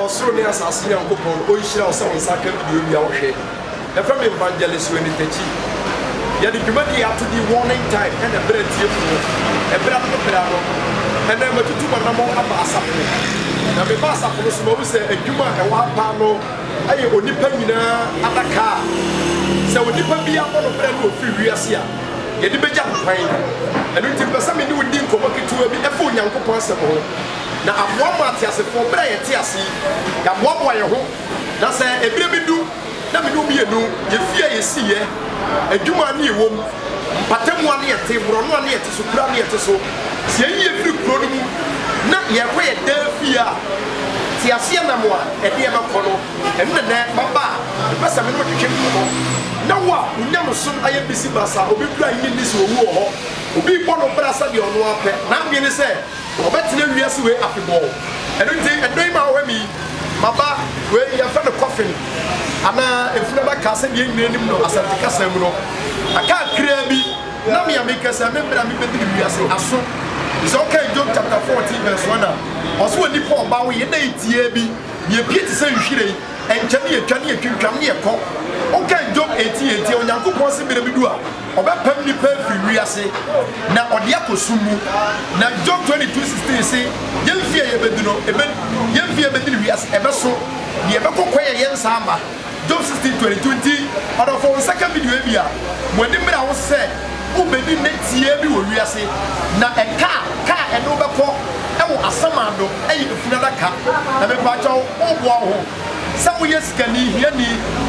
Ɔsoro ne asase Nyankopɔn ɔnhyira wo sɛ wo nsa aka pue wia wo hwɛ. Yɛfrɛ me Evangelist Rene Takyi. Yɛde dwumadie yi ato din Warning Time ɛna ɛberɛ atiefoɔ. Ɛberɛ ano ne berɛ ano. Ɛnɛ matutu m'anammɔn aba asafo. Na meba asafo no so mahu sɛ adwuma a ɛwɔ ha paa no Ɛyɛ onipa nyinaa adaka a sɛ onipa bi abɔ no bra na ɔfiri wiase a, yɛde bɛgya no kwan. Ɛno nti mepɛ sɛ me ne wo di nkɔmmɔ ketewa bi fa Onyankopɔn Asɛm ho, na aboaboa ateasefoɔ berɛ a yɛte ase yi, yɛaboaboa yɛn ho, na sɛ ɛberɛ bi du na me ne wo mmienu, yɛfie a yɛsiiɛ, adwuma a ne yɛwɔ mu, mpatamu a ne yɛte, borɔno a ne yɛte. So kura ne yɛte so? Sɛ yɛyi yɛn firi kuro no mu na yɛrekɔ yɛn dan fie a, teaseɛnam a ɛde yɛn bɛkɔ no, ɛno na ɛnɛ maba a mepɛ sɛ me ne wo twetwe nkɔmmɔ. Ná wo a wo nyamesom ayɛ bisi basa, obi kura nnye nni sɛ owu wɔ hɔ, obi rebɔ no bra sɛdeɛ ɔno ara pɛ, n'adwene ne sɛ ɔbɛtena wiase wei afebɔɔ. Ɛno nti, ɛnnɛ yi mawɔ ha mi yi, maba, wei yɛfrɛ no coffin anaa efunu adaka sɛdeɛ yɛn nyinaa nim no asɛnte kasa mu no, aka kakraa bi Na me a mekɛ sɛ me mbrɛ a mebɛdi me wiase aso te sɛ ɔkɛn Job chapter 14 verse 1 a ɔse wɔ nipa ɔba wo yɛ dɛn tiaa bi ne ɛpie te sɛ nhwiren ɛnkyɛ ne ɛtwa ne ɛtwintwam ne ɛkɔ ɔkɛn Job 18 ɛntiɛ Onyankopɔn se mbrɛ bi du a ɔbɛpam nipa afiri wiase na ɔde akɔ sum mu na Job 22 16 se yɛn fie a yɛbɛdi no ɛbɛ yɛn fie a yɛbɛdi ne wiase ɛbɛso ne ɛbɛkɔ kwan a yɛnsa ama. Job sixteen twenty two nti ɔdɔfo wo nsa ka video yi bi a mo ani mmra ho sɛ wo bɛdi nne tiaa bi wɔ wiase na ɛka a ka a ɛne wo bɛkɔ wɔ asamando ɛyɛ efunu adaka na me pakyɛ wo wo boa wo ho sɛ wo yɛ sikani hiani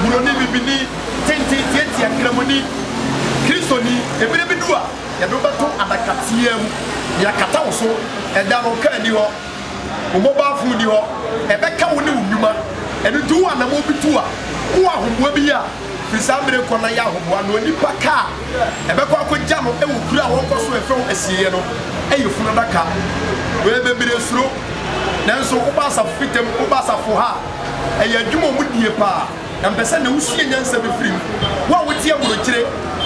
buroni bibini tenten tiatia kramoni kristoni ebire bi du a yɛde wo bɛto adaka tiaa mu na yɛakata wo so ɛda no ka ani hɔ. Wo mmɔbɔafo nni hɔ, ɛbɛka wo ne wo nnwuma. Ɛno nti wowɔ anammɔn bi tu a, wowɔ ahoboa bi yɛ a, fi saa mmere rekɔ na yɛ ahoboa na onipa ka a ɛbɛkɔ akogya no wɔ kuro a wɔnkɔ so mfa ho asieeɛ no yɛ funu adaka. Wei bebree suro. Nanso woba asafo bi ntam, woba asafo ha a, ɛyɛ adwuma a wɔdie paa. Na mepɛ sɛ ɛnnɛ wosua nyansa bi firi mu. Wo a wote aburokyire,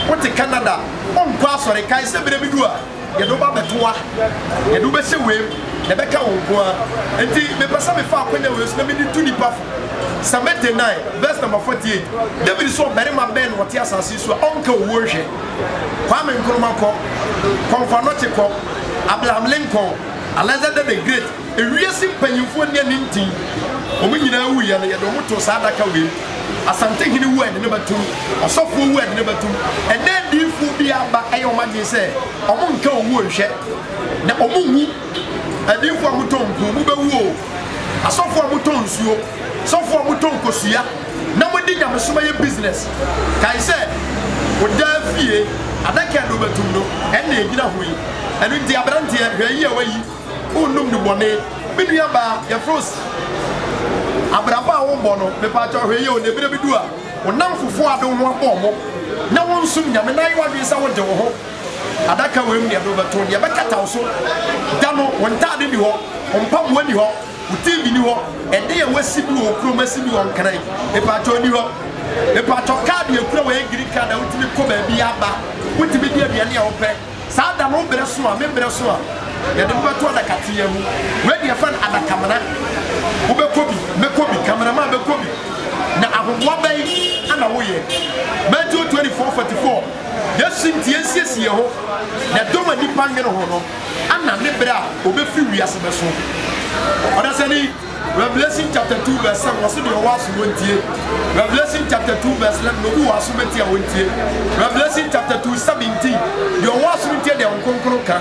wote Canada, wonkɔ asɔre, kae sɛ berɛ bi du a, Yɛde wo ba abɛto hɔ a, yɛde wo bɛhyɛ wei mu, na ɛbɛka wo nko ara. Enti mepɛ sɛ mefa akwanya wei so na mede tu nnipa fo. Psalm 89 vs number 48, David se ɔbarima bɛn na ɔte asase so a ɔnka owuo nhwɛ? Kwame Nkrumah kɔ, Komfo Anokye kɔ, Abraham Lincoln, Alexander the Great, Ewiase mpanyimfoɔ nni ani ntin. Wɔn nyinaa wuiɛ no, yɛde wɔn too saa adaka wei mu. Asantehene wu a, yɛde no bɛtom. Ɔsɔfoɔ wu a, yɛde no bɛtom. Ɛnnɛ adiyifoɔ biara ba yɛ wɔn adwene sɛ wɔnka owuo nhwɛ, na wɔnwu. Adiyifoɔ a motɔn mpuo, mobɛwu o. Asɔfoɔ a motɔn nsuo, sɔfoɔ a motɔn kosua na mode nyamesom ayɛ business, kae sɛ wo daa fie adaka a yɛde wo bɛtom no, ɛnna ɛgyina ho yi. Ɛno nti, aberanteɛ, hwɛ ayi a woayi. Wonnum nnubɔne. Me nuabaa, yɛfrɛ wo sɛ abrabɔ a worebɔ no, mepakyɛw hwɛ yie o, na ebire bi du a, wo nnamfofo a wode wo ho abɔ wɔn na wonsom Nyame no ayɛ w'adwene sɛ wode wo ho adaka wei mu de ade wobɛto, deɛ ɛbɛkata wo so da no, wo ntade nni hɔ, wo mpaboa nni hɔ, wo TV nni hɔ, ɛdan a woasi bi wɔ wo kurom asi bi wɔ Nkran, mepakyɛw nni hɔ. Mepakyɛw, kaad a ekura wo ɛyɛ green card a wotumi kɔ baabiara ba, wotumi di aduane a wopɛ. Saa da no wo berɛ so a, me berɛ so a, yɛde mo bɛto adaka teaa mu. Wei deɛ yɛfrɛ no adakamena. Wobɛkɔ bi, mɛkɔ bi, cameraman bɛkɔ bi. Na ahoboa bɛn na woyɛ? Matthew 24, 44, Yesu nti yɛnsiesie yɛn ho na dɔm a nnipa nwene ho no, ana ne berɛ a ɔbɛfiri wiase bɛso? Ɔdasani. Revelation chapter two verse seven wɔsi deɛ ɔwɔ aso wɔn tie. Revelation chapter two verse eleven na obi wɔ aso bɛ tie a wɔn tie. Revelation chapter two seventeen deɛ ɔwɔ aso no tie deɛ nkonkono ka.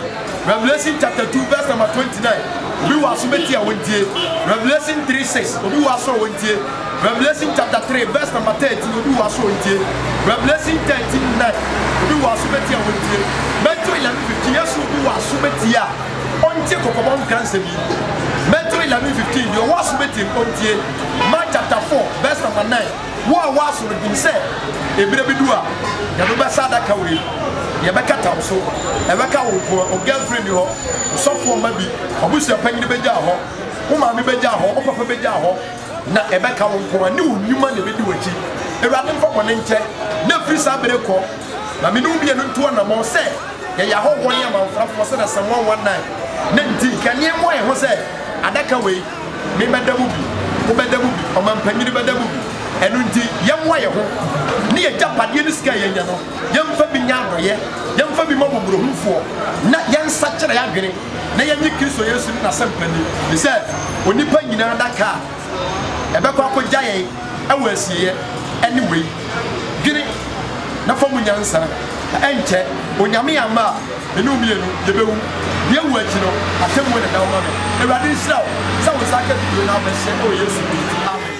Revelation chapter two verse number twenty nine obi wɔ aso bɛ tie a wɔn tie. Revelation three six obi wɔ aso a wɔn tie. Revelation chapter three verse number thirteen obi wɔ aso wɔn tie. Revelation thirteen nine obi wɔ aso bɛ tie a wɔn tie. Matthew eleven fifteen yɛ so obi wɔ aso bɛ tie a. Ontie kɔkɔbɔ nkransɛm yi. Matthew eleven fifteen, Deɛ ɔwɔ aso bɛtie no, ɔntie. Mark chapter four verse number nine, Wo a ɔwɔ aso no, nim sɛ ɛberɛ bi du a, yɛde wo bɛsa adaka wei, yɛbɛkata wo so. Ɛbɛka wo nko ara, wo girlfriend nni hɔ, wo sɔfoɔ mma bi, w'abusuapanyini bɛgyaa hɔ, wo maame bɛgyaa hɔ, wo papa bɛgyaa hɔ, na ɛbɛka wo nko ara ne wo nnwuma na ɛbɛdi w'akyi. Awurade mfa bɔne nkyɛ, na firi saa berɛ kɔ, na me ne wo mmienu ntu anammɔn sɛ yɛyɛ ahɔhoɔ ne amamfrafoɔ sɛdeɛ Psalm 119 ne nti nka nneɛ mmɔ yɛn ho sɛ adaka wei me bɛda mu bi, wo bɛda mu bi, ɔmampanyini bɛda mu bi, ɛno nti yɛmmoa yɛn ho ne yɛn agyapadeɛ ne sika a yɛanya no yɛmfa bi nyɛ adɔeɛ, yɛmfa bi ma mmɔborɔhunufoɔ na yɛnsakyera yɛn adwene na yɛnnye Kristo Yesu ne N'asɛmpa nni ne sɛ onipa nyinaa adaka a. Ɛbɛkɔ akogya yɛn wɔ asieɛ ɛne wei. Dwene na fa mu nyansa na ɛnkyɛ Onyame amma a me ne wo mmienu yɛbɛwu. Deɛ ɛwɔ akyi no atemmuo na ɛda hɔ ma me. Awurade nhyira wo sɛ wo nsa aka video no abɛhyɛ ɛwɔ Yesu din mu. Amen.